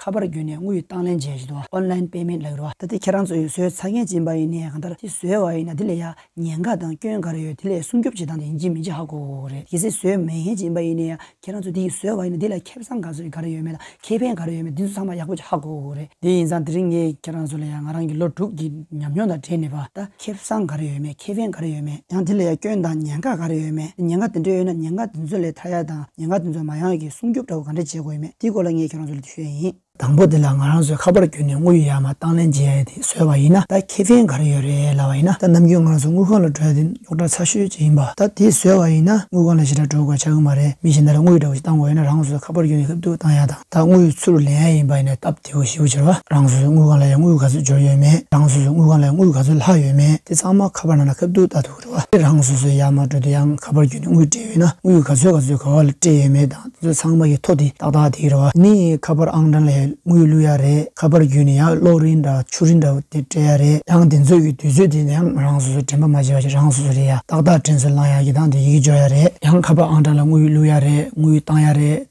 ཁ་པར་བརྒྱུད་ནས་དངུལ་གྱི་བཏང་ལེན་བྱས་བཞིན་དུ Online Payment ལག་རོ། ད་ལྟ་ཁྱེད་རང་ཚོ་ཡུལ་སྲོལ་ཚ་རྒན་སྦྱིན་པ་ཡིན་ནས་གང་ལྟར་ཁྱི་ཟོས་བ་ཡིན་ན་དེ་ལས་ཡང་ཉེན་ཁ་དང་སྐྱོན་ག་རེ་ཡོད་དེ་ལས་སྲུང་སྐྱོབ་བྱེད་སྟངས་དེ་ཡིན་གྱི་མིན་གྱི་ཧ་གོ་གོ་རེད་གལ་སྲིད་ཟོས་མེད་མཁན་སྦྱིན་པ་ཡིན་ནས་ཡང་ཁྱེད་རང་ཚོ་དེ་ཡིས་ཟོས་བ་ཡིན་ན་དེ་ལ་ཁེ་བཟང་ག་ཚོད་ག་རེ་ཡོད་མེད་དང་ཁེ་ཕན་ག་རེ་ཡོད་མེད་དེ་ཚོ་ཚང་མ་ཡག་པོ་གྱི་ཧ་གོ་གོ་རེད། དེ་ཡིན་ཙང་དེ་རིང་ངས་ཁྱེད་རང་ཚོ་ལ་ཡང་ང་རང་གི་ལོ་དྲུག་གི་ཉམས་མྱོང་དང་འབྲེལ་ནས་པ་ད་ཁེ་བཟང་ག་རེ་ཡོད་མེད་ཁེ་ཕན་ག་རེ་ཡོད་མེད་ཡང་དེ་ལ་ཡང་སྐྱོན་དང་ཉེན་ཁ་ག་རེ་ཡོད་མེད་ཉེན་ཁ་དེ་འདྲ་ཡོད་ན་ཉེན་ཁ་དེ་ཚོ་ལས་ཐར་ཡ་དང་ཉེན་ཁ་དེ་ཚོ་མ་ཡོང་ཡ་གི་སྲུང་སྐྱོབ་འདྲ་བོ་ག་འདྲ་བྱེད་དགོས་ཡོད་མེད་དེའི་སྐོར་ལ་ངས་ཁྱོད་རང་ཚོ་ལ་འདྲི་ཤོས་ཡིན། དང་པོ་དེ་ལ་ང་རང་ཚོས་ཁ་པར་བརྒྱུད་ནས་དངུལ་ཡོད་ཡ་མ་དང་ལེན་བྱེད་ཡ་དེ་བཟོས་པ་ཡིན་ན་ད་ཁེ་ཕན་ག་རེ་ཡོད་རེད་ལབ་པ་ཡིན་ན་ད་ནམ་རྒྱུན་ང་རང་ཚོ་དངུལ་ཁང་ལ་འགྲོ་ཡ་དེ་རྙོག་དྲ་ཚ་ཤོས་ཅིག་ཡིན་པ་ད་དེ་བཟོས་པ་ཡིན་ན་དངུལ་ཁང་ལ་ཞེ་དྲག་འགྲོ་དགོས་ཆགས་གི་མ་རེད་མི་གཞན་དག་ལ་དངུལ་འདྲ་བོ་ཞིག་བཏང་དགོས་ཡོད་ན་རང་ཚོ་ཁ་པར་བརྒྱུད་ནས་ཧུབ་ཏུ་བཏང་ཡ་དང་ད་དངུལ་ཚུར་ལེན་ཡ་ཡིན་པ་ཡིན་ན་སྟབས། དེ་འོ་ཞེས་འོ་བྱེར་བ། རང་སོ་སོའི་དངུལ་ཁང་ལ་ཡང་དངུལ་ག་ཚོད་འབྱོར་ཡོད་མེད་རང་སོ་སོའི་དངུལ་ཁང་ལ་ཡང་དངུལ་ག་ཚོད་ལྷག་ཡོད་མེད་དེ་ཚང་མ་ཁ་པར་ནང་ལ་ཁ་བསྡུ་བལྟ་ཐུབ་ཀྱི་འགྲོ་བ། དེ་རང་སོ་སོའི་ཡར་མར་འགྲོ་དུས་ཡང་ཁ་པར་བརྒྱུད་ནས་དངུལ་སྤྲད་ཡོད་ན་དངུལ་ག་ཚོད་ག་ཚོད་ག་བ་ལ་སྤྲད་ཡོད་མེད་དང་དེ་ཚོ་ཚང་མ་ཡིག་ཐོག་དེ་ཏག་ཏག་དེ་ཡི་རེད་བ། ནི་ཁ་པར་ཨང་གྲངས་ལས་དངུལ་བླུག་ཡ་རེད་ཁ་པར་བརྒྱུད་ནས་ཡང་གློག་རིན་འདྲ་བ་ཆུ་རིན་འདྲ་བོ་དེ་སྤྲད་ཡ་རེད་ཡང་དེ་ཚོ་ཡི་དུས་ཚོད་དེ་ནས་ཡང་རང་སོ་སོས་དྲན་པ་མ་བྱེད་བ་ཞིག་རང་སོ་སོ་རེད་ཡ་ཏག་ཏག་དྲན་ཚོད་བླང་ཡ་གི་དང་དེ་ཡིག་འཇོག་ཡ་རེད་ཡང་ཁ་པར་ཨང་གྲངས་ལ་དངུལ་བླུག་ཡ་རེད་དངུལ་བཏང་ཡ་རེད།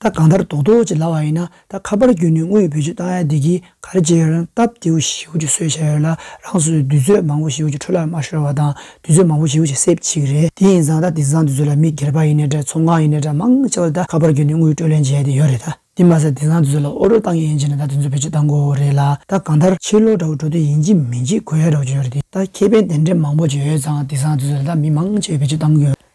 ད་གང་ལྟར་རྡོག་རྡོག་ཅིག་ལ་བ་ཡིན་ན་ད་ཁ་པར་བརྒྱུད་ནས་དངོས་བོད་ཅིག་བཏང་ཡ་འདི་གིས་ག་རེ་བྱེད་ཡོད་རང་སྟབས་བདེའོ་བཞིའོ་ཅིག་གསོལ་བྱས་ཡོད་ལ་རང་སོས་དུས་ཚོད་མང་བོ་བཞིའོ་ཅིག་འཕྲུལ་ལར་མ་ཤོར་བ་དང་དུས་ཚོད་མང་བོ་བཞིའོ་ཅིག་སེབས་གཅིག་རེད་དེ་ཡིན་ཙང་ད་དེ་ཙང་དུས་ཚོད་ལ་མི་སྒེར་པ་ཡིན་ནས་འདྲ་ཚོང་ཁང་ཡིན་ནས་འདྲ་མང་ཆེ་བ་ལ་ད་ཁ་པར་བརྒྱུད་ནས་དངུལ་སྤྲོད་ལེན་བྱེད་ཡ་དེ་ཡོད་རེད་ད་དེ་མ་ཟད་དེ་ཙང་དུས་ཚོད་ལ་ཨོ་རོད་བཏང་ཡ་ཡིན་བྱས་ནས་ད་དུས་ཚོད་བོད་ཅིག་བཏང་དགོས་བོ་རེད་ལ་ད་གང་ལྟར་ཕྱིར་ལོག་འདྲ་བོ་འགྲོ་དུས་ཡིན་གཅིག་མིན་གཅིག་དགོས་ཡ་འདྲ་བོ་ཅིག་ཡོད་རེད་དེ་ད་ཁེ་ཕན་དེ་འདྲ་མང་བོ་ཅིག་ཡོད་ཙང་དེ་ཙང་དུས་ཚོད་ལ་ད་མི་མང་ཆེ་བས་བོད་ཅིག་བཏང་དགོས་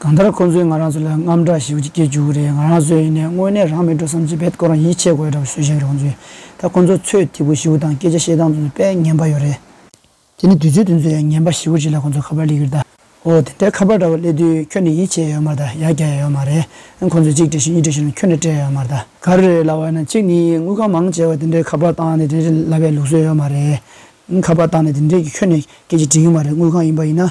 གང་ལྟར་ཁོང་ཚོས་ང་རང་ཚོ་ལ་རྔམ་སྐྲག་ཞིག་སྐྱེས་བཅུག་གི་རེད་ང་རང་ཚོས་ཡིན་ནའི་དངོས་གནས་རང་མི་འགྲོ་བསམ་ཚུལ་བེད་དགོས་རང་ཡིད་ཆེས་དགོས་གྲབས་བཟོས་ཤིག་རང་ཚོས་ད་ཁོང་ཚོ་ཚོས་ཐིག་པོ་བཞི་བོ་དང་སྐད་ཆ་བཤད་སྟངས་དུ་དཔེ་ངན་པ་ཡོད་རེད། དེ་ནི་དུས་ཚོད་དུ་ཚོས་ཡ་ངན་པ་བཞི་བོ་ཅིག་ལ་ཁོང་ཚོ་ཁ་པར་གླེགས་ཀྱིར་བལྟ། ཨོ་དེ་འདྲའི་ཁ་པར་འདྲ་བོ་གླེགས་དུས་ཁྱོད་ནས་ཡིད་ཆེས་ཡོད་མ་གདའ་ཡ་རྒྱ་ཡ་ཡོད་མ་རེད་ཁོང་ཚོས་གཅིག་བྲིས་ཤིང་གཉིས་བྲིས་ཤིང་ལ་ཁྱོད་ནས་སྤྲད་ཡོད་མ་གདའ། ག་རེ་རེད་ལབ་བ་ཡིན་ན་གཅིག་ནི་དངུལ་ཁང་མང་བྱས་པ་དེ་འདྲའི་ཁ་པར་བཏང་ནས་དེ་འདྲའི་ལབ་པའི་ལུགས་སྲོལ་ཡོད་མ་རེད། ཁ་པར་བཏང་ནས་དེ་འདྲའི་གི་ཁྱོད་ནས་སྐད་ཆ་བྲིས་ཡོད་མ་རེད་དངུལ་ཁང་ཡིན་པ་ཡིན་ན་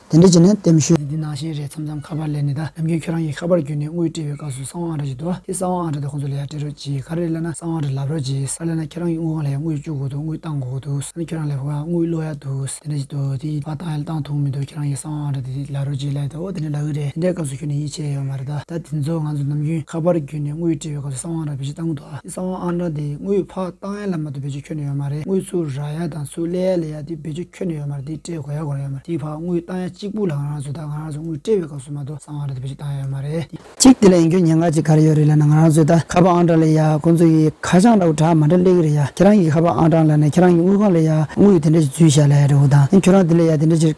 དེ་འབྲེལ་གྱི་ནས་གཏེམ་ཞུ། འདི་ནང་བཞིན་རེད་མཚམས་མཚམས་ཁ་པར་ལས་ནས་ད་ནམ་རྒྱུན་ཁྱོད་རང་གི་ཁ་པར་བརྒྱུད་ནས་དངུལ་སྤྲད་པའི་སྐབས་སུ་གསང་བ་ཨང་ར་ཅིག་འདུག་ཨ་དེ་གསང་བ་ཨང་ར་དེ་ཁོང་ཚོ་ལ་ཡང་སྤྲད་རོགས་གྱིས་ག་རེ་གླེང་ན་གསང་བ་ཨང་ར་ལབ་རོགས་གྱིས་ས་གླེང་ན་ཁྱེད་རང་གི་དངུལ་ཁང་ལ་ཡང་དངུལ་བཅུག་དགོས་འདུག་དངུལ་བཏང་དགོས་འདུག་ས་ནི་ཁྱོད་རང་ལས་ཕུག་ཨང་དངུལ་བླུག་ཡག་འདུག་དེ་འདྲ་ཞིག་འདུག་དེ་ཡིན་ཕ་བཏང་ཡང་བཏང་ཐུག་མི་འདུག་ཁྱེད་རང་གི་གསང་བ་ཨང་ར་དེ་དེ་ལབ་རོགས་གྱིས་ལབ་ཨོ་དེ་འདྲ་ལབ་གི་རེད་དེ་འདྲའི་སྐབས་སུ་ཁྱོད་ནས་ཡིད་ཆེས་ཡོད་མ་རེད་ད་ད་དེ་ཚོ་ང་ཚོ་ནམ་རྒྱུན་ཁ་པར་བརྒྱུད་ནས་དངུལ་སྤྲད་པའི་སྐབས་སུ་གསང་བ་ཨང་ར་བེད་སྤྱོད་བཏང་གི་འདུག་ཨ། གསང་བ་ཨ་མྲ་དེ་དངུལ་ཕག་རྟགས་ཡན་ལ་མ་དུ་བེད་སྤྱོད་འཁྱོལ་ནས་ཡོད་མ་རེད་དངུལ་ཚུར་རག་ཡ་དང་ཚུར་གླས་ཡ་ལས་ཡ་དེ་བེད་སྤྱོད་འཁྱོལ་ནས་ཡོད་མ་རེད་དེ་སྤྲད་དགོས་ཡ་དགོས་ར་ཡོད་མ་རེད་དེའི་བར་དངུལ་རྟགས་ཡ་གཅིག་པུ་ལ་ང་རང་ཚོས་ད་ང་རང་ཚོ་དངུལ་སྤྲད་པའི་སྐབས་སུ་མ་དོ་གསང་བ་ཨ་མྲ་དེ་བེད་སྤྱོད་བཏང་ཡ་ཡོད་མ་རེད་དེ། གཅིག་དེ་ལ་ཡིན་རྒྱུ་ཉེན་ཁ་ཅིག་ག་རེ་ཡོད་རེད་ལབ་ན་ང་རང་ཚོས་ད་ཁ་པར་ཨ་མྲ་ལས་ཡ་ཁོང་ཚོ་ཡི་ཁ་བྱང་འདྲ་བོ་དྲ་མ་འདྲ་གླས་གི་རེད་ཡ་ཁྱེད་རང་གི་ཁ་པར་ཨ་མྲ་ལ་ནས་ཁྱེད་རང་གི་དངུལ་ཁང་ལས་ཡ་དངུལ་ཡི་དེ་འདྲ་ཞིག་འཛུལ་བཞག་ལ་ཡ་རེད་འོ་ད་ནི་ཁྱོད་རང་དེ་ལས་ཡ་དེ་འདྲ་ཅིག་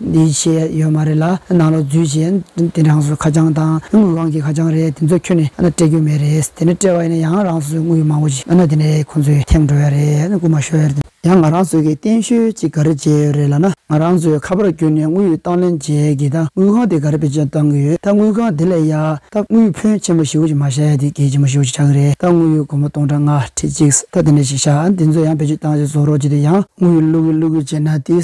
འདི་བྱས་ཡོད་མ་རེད་ལ་ནང་ལོག་རྫུས་བྱས་དེ་རང་སོའི་ཁ་བྱང་དང་དངུལ་བང་གི་ཁ་བྱང་རེད་དེ་ཚོ་ཁྱོན་ནས་སྤྲད་རྒྱུ་མེད་རེད་དེ་ནས་སྤྲད་པ་ཡིན་ན་ཡང་རང་སོའི་དངུལ་མང་བོ་ཅིག་དེ་ནས་ཁོང་ཚོས་ཐེངས་འགྲོ་ཡ་རེད་སྐུ་མ་ཤོར་ཡ་ཡང་ང་རང་སོ་གི་བསྟན་བཤོལ་ཅིག་ག་རེ་བྱས་ཡོད་རེད་ལ་ན་ང་རང་སོའི་ཁ་པར་བརྒྱུད་ནས་དངུལ་བཏང་ལེན་བྱས་གི་ད་དངུལ་ཁང་དེ་ག་རེ་བེད་སྤྱོད་བཏང་གི་ཡོད་ད་དངུལ་ཁང་དེ་ལས་ཡ་ད་དངུལ་ཕོན་ཆེན་པོ་ཞིག་བོ་ཅིག་མ་བཞག་ཡ་དེ་གལ་ཆེན་པོ་ཞིག་བོ་ཅིག་ཆགས་གི་རེད་ད་དངུལ་ཡོད་སྒོར་མོ་སྟོང་ཕྲག་ལྔ་ཁྲི་གཅིག་ད་དེ་ནས་ཞིག་བཞག་དེ་ཚོ་ཡང་བེད་སྤྱོད་བཏང་ཞིག་བཟོ་རོགས་ཅིག་དེ་ཡང་དངུལ་བླུག་གི་བླུག་གི་བྱས་ན་དེ་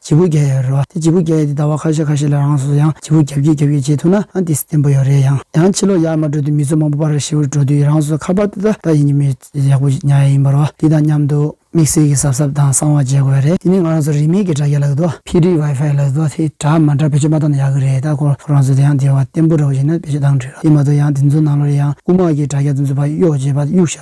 བྱེད་པོ་རྒྱ་ཡ་རོ། དེ་བྱེད་པོ་རྒྱ་ཡ་དེ་ཟླ་བ་ཁ་ཤས་ཁ་ཤས་ལ་རང་སོ་སོ་ཡང་བྱེད་པོ་རྒྱབ་ཀྱིས་རྒྱབ་ཀྱིས་བྱེད་ཐུབ་ན་ཨང་དེ་བསྟན་པོ་ཡོད་རེད་ཡང་ཡང་ཕྱི་ལོགས་ཡར་མ་འགྲོ་དུས་མི་ཚོ་མང་པོ་པར་ར་ཤི་བོར་འགྲོ་དུས་རང་སོ་སོ་ཁ་པར་ཏི་ཏ་ཏ་ཡིན་གྱི་མེད་ཡག་པོ་ཉག་ཡ་ཡིན་པར་བ་དེ་དང་མཉམ་དུ། དམིགས་བསལ་གྱི་གཟབ་གཟབ་དང་གསང་བ་བྱེད་དགོས་རེད་དེ་ནི་ང་རང་ཚོ་རིན་མེད་ཀྱི་དྲ་རྒྱ་ལ་གི་དོ། ཕི་རིའི་ཝའི་ཧྥའི་ལ་གི་དོ་དེ་དྲ་མ་འདྲ་བེད་སྤྱོད་མ་བཏང་ན་ཡག་གི་རེད་ད་ཁོ་རང་ཚོ་དེ་ཡང་དེ་བ་བརྟན་པོ་ར་བ་བྱེད་ན་བེད་སྤྱོད་བཏང་འགྲིག་རོ་དེ་མ་གཏོགས་ཡང་དེ་ཚོ་ནང་ལོར་ཡང་དབུ་མ་གི་དྲ་རྒྱ་དེ་ཚོ་བ་གཡོག་བྱེད་པ་གཡུག་བྱ།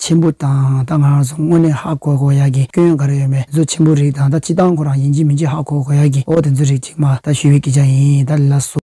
ཆེན་པོ་དང་ད་ང་རང་སོང་སྔོན་ནས་ཧ་གོ་གོ་ཡག་གི་སྐྱོན་ཡང་ག་རེ་ཡོད་མེད་མཛོད་ཆེན་པོ་རིགས་དང་ད་ཅི་སྟངས་ཁོ་རང་ཡིན་གཅིག་མིན་གཅིག་ཧ་གོ་གོ་ཡག་གི་འོ་དེ་ཚོ་རིགས་གཅིག་མ་ད་ཞུ་བའི་སྐད་ཆ་ཡིན་ད་ལས་ལ་སོ།